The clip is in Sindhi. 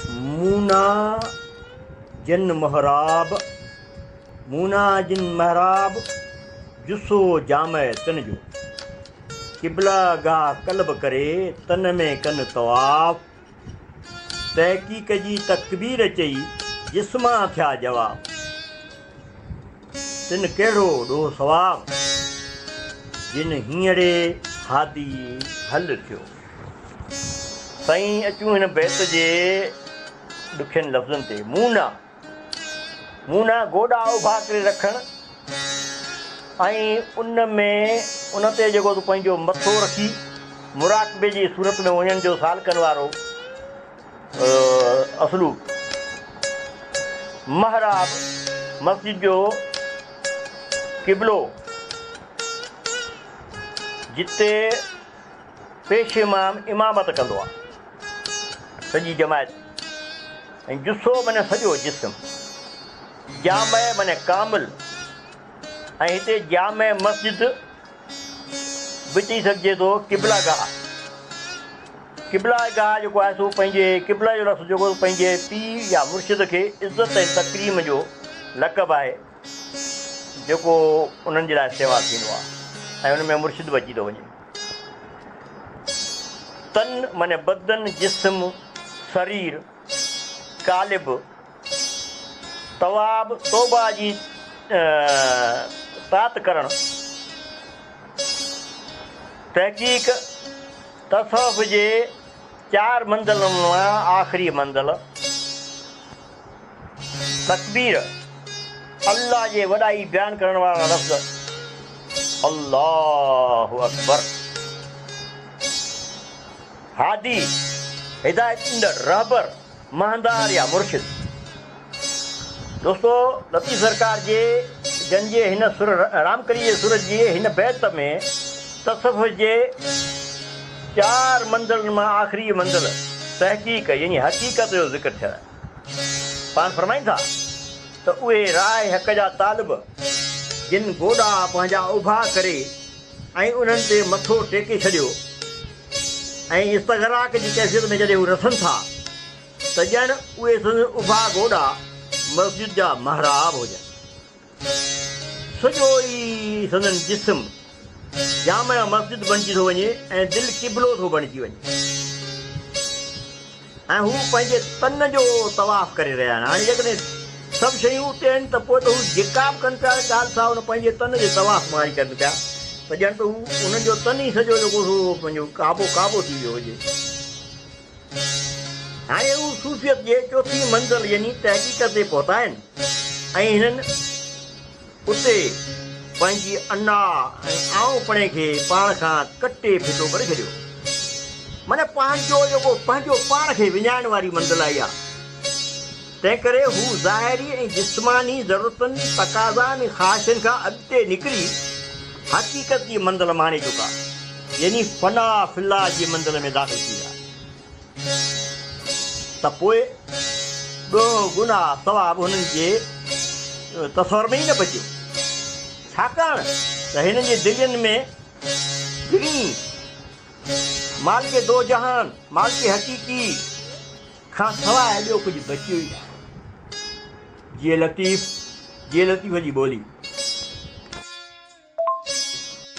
مونا جن محراب، مونا جن محراب، جسو جامع تن جو. قبله گاه قلب ڪري، تن ۾ ڪن طواف. تحقيق جي تڪبير چئي، جسمان ٿيا جواب. تن ڪهڙو ڏوهه ثواب، جن هينئڙي هادي حل ٿيو. سائين اچون هن بيت جي ڏکين لفظن تي، مون نه، مون نه گوڏا اڀا ڪري رکڻ ۽ ان ۾ ان تي جيڪو تون پنهنجو مٿو رکي مراقبي جي صورت ۾ وڃڻ جو سالڪن وارو اسلوب، محراب، مسجد جو قبلو، جتي پيش امام امامت ڪندو آهي، سڄي جماعت ۽ جثو معني سڄو جسم، جامع معني ڪامل ۽ هتي جامع مسجد به چئي سگهجي ٿو قبله گاهه قبله گاهه جيڪو آهي سو پنهنجي قبله جو لفظ جيڪو پنهنجي پيء يا مرشد کي عزت ۽ تڪريم جو لقب آهي جيڪو انهن جي لاء استعمال ٿيندو آهي ۽ ان ۾ مرشد به اچي ٿو وڃي تن معني بدن جسم سرير قالب تواب توبه جي تات ڪرڻ، تحقيق تصوف جي چار منزلن مان آخري منزل، تڪبير، الله جي وڏائي بيان ڪرڻ وارا لفظ، الله اڪبر، هادي، هدايت ڏيندڙ، رهبر، مهندار يا مرشد. دوستو لطيف سرڪار جي جن جي هن سر رامڪلي جي سر جي هن بيت ۾ تصوف جي چار منزلن مان آخري منزل تحقيق يعني حقيقت جو ذڪر ٿيل آهي پاڻ فرمائين ٿا ته اهي راهه حق جا طالب جن گوڏا پنهنجا اڀا ڪري ۽ انهن تي مٿو ٽيڪي ڇڏيو ۽ استغراق جي ڪيفيت ۾ جڏهن هو رسن ٿا ته ڄڻ اهي سندن اڀا گوڏا مسجد جا محراب هجن. سڄو ئي سندن جسم جامع مسجد بڻجي ٿو وڃي ۽ دل قبلو ٿو بڻجي وڃي. ۽ هو پنهنجي تن جو طواف ڪري رهيا آهن. هاڻي جيڪڏهن سڀ شيون اتي آهن ته پوء ته هو جيڪا به ڪن پيا اهي ڳالهه سا ان پنهنجي تن جي طواف مان ئي ڪن پيا ته ڄڻ ته هو انهن جو تن ئي سڄو جيڪو سو پنهنجو ڪعبو ڪعبو ٿي ويو هجي. هاڻي هو صوفيت جي چوٿين منزل يعني تحقيق تي پهتا آهن ۽ هنن. اتي پنهنجي انا ۽ آئونپڻي کي پاڻ کان ڪٽي ڦٽو ڪري ڇڏيو. معنيٰ پنهنجو جيڪو پنهنجو پاڻ کي وڃائڻ واري منزل آئي آهي. تنهنڪري هو ظاهري ۽ جسماني ضرورتن، تقاضائن ۽ خواهشن کان اڳتي نڪري حقيقت جي منزل ماڻي چڪا يعني فنا في الله جي منزل ۾ داخل ٿي ويا. ته پوء ڏوهه، گناهه، ثواب هنن جي تصور ۾ ئي نه بچيو، ڇاڪاڻ ته هنن جي دلين ۾ ٻنهي مالڪ دوجهان، مالڪ حقيقي، کان سواء ٻيو ڪجهه بچيو ئي ناهي. جيئي لطيف، جيئي لطيف جي ٻولي.